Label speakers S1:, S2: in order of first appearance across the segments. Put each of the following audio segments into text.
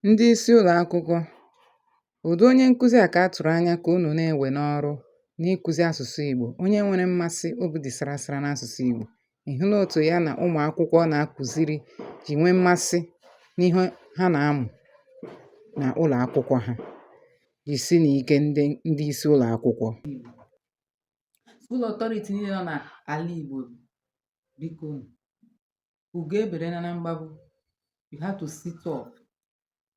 S1: Ndị isi ụlọ akwụkwọ, ụdị onye nkụzi a ka a tụrụ anya ka unu na-ewe n'ọrụ n'ịkụzi asụsụ Igbo, onye nwere mmasị obi dị sara sara n'asụsụ Igbo. Ị hụla otu ya na ụmụ akwụkwọ na-akụziri ji nwee mmasị n'ihe ha na-amụ na ụlọ akwụkwọ ha, jisinụ ike ndị isi ụlọ akwụkwọ. School
S2: authority niile nọ n'ala Igbo biko ugo eberena na mgbagbu you have to sit up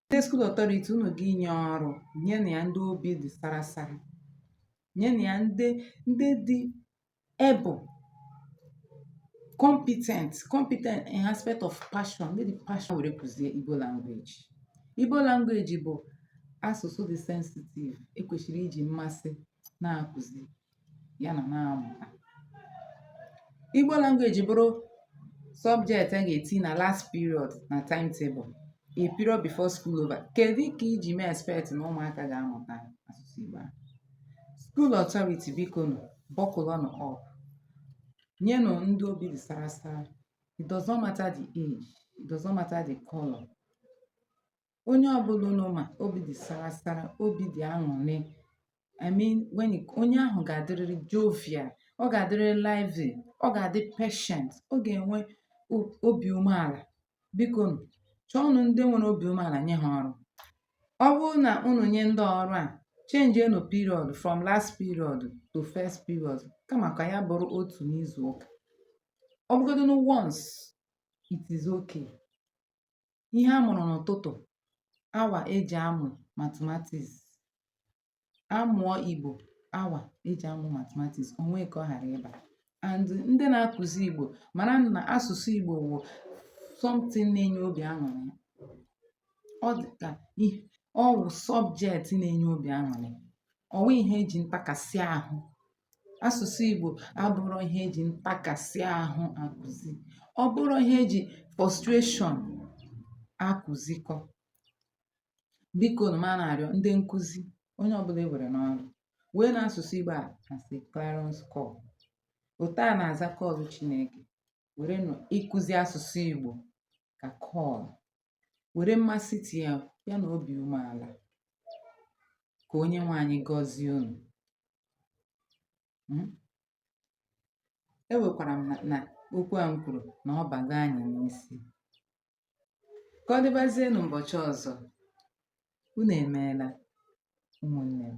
S2: ndị school authority unu ga-enye ọrụ nyenụ ya ndị obi dị sarasara nyenụ ya ndị ndị dị able competent competent in aspect of passion ndị ji passion were kụzie igbo language igbo language bụ asụsụ dị sensitive e kwesịrị iji mmasị na-akụzi ya na na-amụta Igbo language bụrụ subject a ga-eti na last period na timetable a period before school over kedu ka i ji mee expect na ụmụaka ga-amụta asụsụ Igbo a school authority biko nụ buckle nụ up nyenụ ndị obi dị sara sara it does not matter the age it does not matter the color onye ọbụla unu ma obi dị sara sara obi dị aṅụrị I mean when you- onye ahụ ga-adịrịrị jovial ọ ga-adịrịrị lively ọ ga-adị patient ọ ga-enwe o- obi umeala biko nụ, chọọnụ ndị nwere obi umeala nye ha ọrụ ọ bụrụ na unu nye ndị ọrụ a chenjienụ period from last period to first period kama ka ya bụrụ otu n'izu ụka ọ bụgodu nụ once it is okay ihe a mụrụ n'ụtụtụ awa eji amụ mathematics a mụọ Igbo awa eji amụ mathematics o nwee ka ọ ghara ịba and ndị na-akụzi Igbo mara na asụsụ Igbo wụ something na-enye obi aṅụrị ọ dị ka ọ wụ subject na-enye obi aṅụrị ọ wụ ihe eji ntakasị ahụ asụsụ Igbo abụrọ ihe eji ntakasị ahụ akụzi ọ bụrọ ihe eji frustration akụzikọ biko nụ m na-arịọ ndị nkụzi onye ọbụla e were n'ọrụ weenụ asụsụ Igbo a as clarion call otu a na-aza call Chineke were nụ ịkụzi asụsụ Igbo ka call were mmasị tinye ya na obi umeala ka onye nwe anyị gọzie unu hmm? ewekwara m na okwu a m kwuru na ọ bago anyị n'isi ka ọ dịbazienụ ụbọchị ọzọ unu emeela ụmụnne m